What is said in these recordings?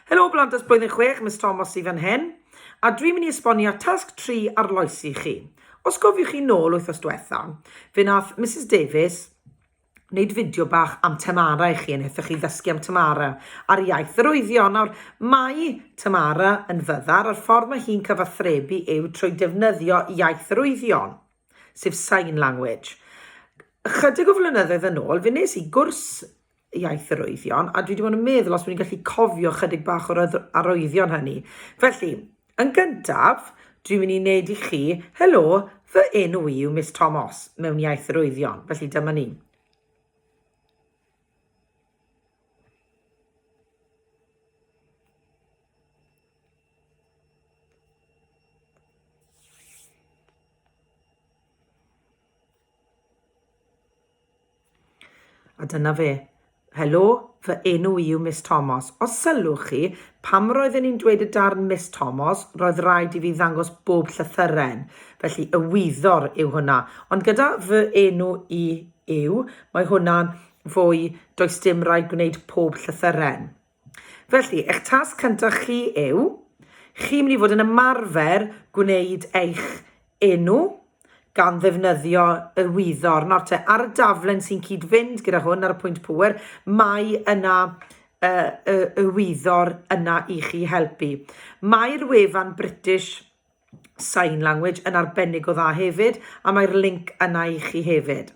Helo Blandes Blwyddyn 6, Miss Thomas i fan hyn, a dwi'n mynd i esbonio tasg 3 arloesi chi. Os gofiwch chi nôl wythnos diwetha, fe nath Mrs Davies wneud fideo bach am Tamara i chi, yn eitha chi ddysgu am Tamara a'r iaith yr oeddio. Nawr, mae Tamara yn fyddar a'r ffordd mae hi'n cyfathrebu yw trwy defnyddio iaith yr oeddion, sef sign language. Ychydig o flynyddoedd yn ôl, fe nes i gwrs iaith yr oeddion, a dwi wedi bod yn meddwl os dwi'n gallu cofio chydig bach o'r arwyddion hynny. Felly, yn gyntaf, dwi'n mynd i wneud i chi, helo, fy enw i yw Miss Tomos, mewn iaith yr oeddion. Felly, dyma ni. A dyna fe. Helo, fy enw i yw Miss Tomos. Os sylwch chi, pam roedden i'n dweud y darn Miss Tomos, roedd rhaid i fi ddangos bob llythyren. Felly, y wyddor yw hwnna. Ond gyda fy enw i yw, mae hwnna'n fwy does dim rhaid gwneud pob llythyren. Felly, eich tasg cyntaf chi yw, chi'n mynd i fod yn ymarfer gwneud eich enw gan ddefnyddio y wyddor. Nawr te, ar y daflen sy'n cyd-fynd gyda hwn ar y pwynt pŵer, mae yna y, y, y wyddor yna i chi helpu. Mae'r wefan British Sign Language yn arbennig o dda hefyd a mae'r linc yna i chi hefyd.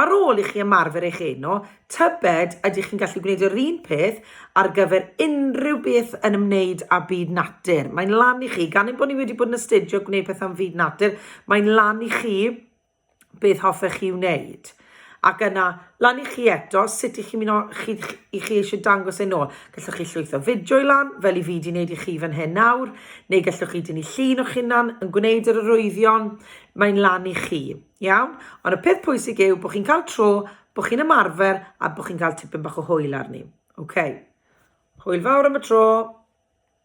Ar ôl i chi ymarfer eich eno, tybed ydych chi'n gallu gwneud yr un peth ar gyfer unrhyw beth yn ymwneud â byd natur? Mae'n lan i chi, gan ein bod ni wedi bod yn astudio gwneud pethau am fyd natur, mae'n lan i chi beth hoffech chi wneud. Ac yna, lan i chi eto, sut i chi mynd o, chi, i chi eisiau dangos e'n ôl. Gallwch chi llwytho fideo i lan, fel i fi di wneud i chi fan hyn nawr, neu gallwch chi dynnu llun o'ch hunan yn gwneud yr arwyddion, mae'n lan i chi. Iawn? Ond y peth pwysig yw bod chi'n cael tro, bod chi'n ymarfer a bod chi'n cael tipyn bach o hwyl arni. OK. Hwyl fawr am y tro.